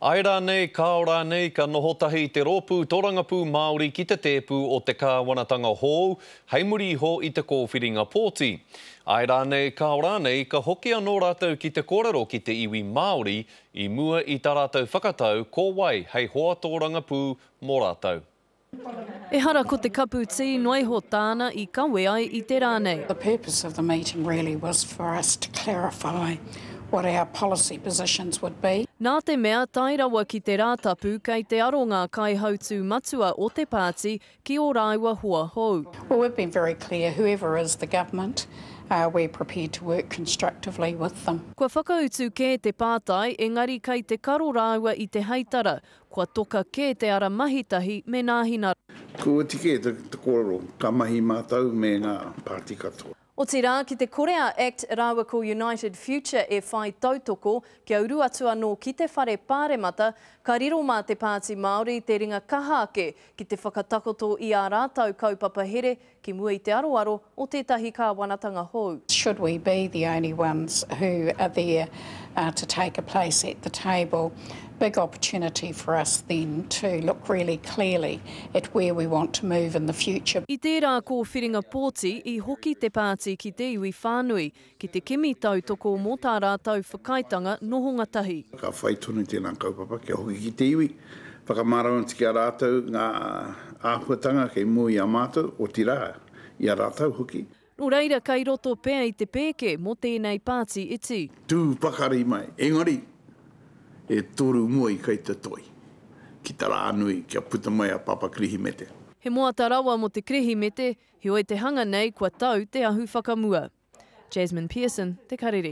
Ae rānei, kāo rānei, ka noho tahi te Rōpū Tōrangapū Māori ki te tēpu o te kāwanatanga hōu hei muri iho i te kōwhiringa pōti. Ae rānei, kāo rānei, ka hoki anō rātou ki te kōrero ki te iwi Māori i mua i tā rātou whakatau ko wai hei hoa tōrangapū mō rātou. Ehara ko te kapu tī noaiho tāna i kawe ai i te rā nei. The purpose of the meeting really was for us to clarify what our policy positions would be. Nā te mea, tae rawa ki te Rātapu kei te aro ngā kaihautū matua o te pāti ki ō rāua hoa hou. Well, we've been very clear, whoever is the government, we're prepared to work constructively with them. Kua whakautu kē te pātai, engari kei te karo rāua i te heitara, Kua toka kē te ara mahitahi me nāhina. Kua oti kē te kōrero, ka mahi mātou me ngā pāti katoa. Otirā, ki te kore a act rāua ko United Future e whai tautoko, kia uru atu anō ki te whare pāremata, ka riro mā te Pāti Māori te ringa kaha ake ki te whakatakoto i ā rātou kaupapa here Ki mua i te aroaro o tētahi kāwanatanga hou. Should we be the only ones who are there to take a place at the table, big opportunity for us then to look really clearly at where we want to move in the future. I tērā kōwhiringa pōti, i hoki te pāti ki te iwi whānui, ki te kimi tautoko mō tā rātou whakaaetanga nohonga tahi. Ka whai tonu tēnā kaupapa kia hoki ki te iwi, whakamārama atu ki a rātou ngā āhuatanga kei mua i a mātou, otirā, i a rātou hoki. Nō reira, kei roto pea i te pēke mō tēnei pāti iti. Tū pakari mai, engari, e toru mua i kai te toi, ki te rā nui, kia puta mai a Papa Kirihimete. He moata rawa mō te Kirihimete, Heoi te hanga nei kua tau te ahu whakamua. Jasmine Pearson, Te Karere.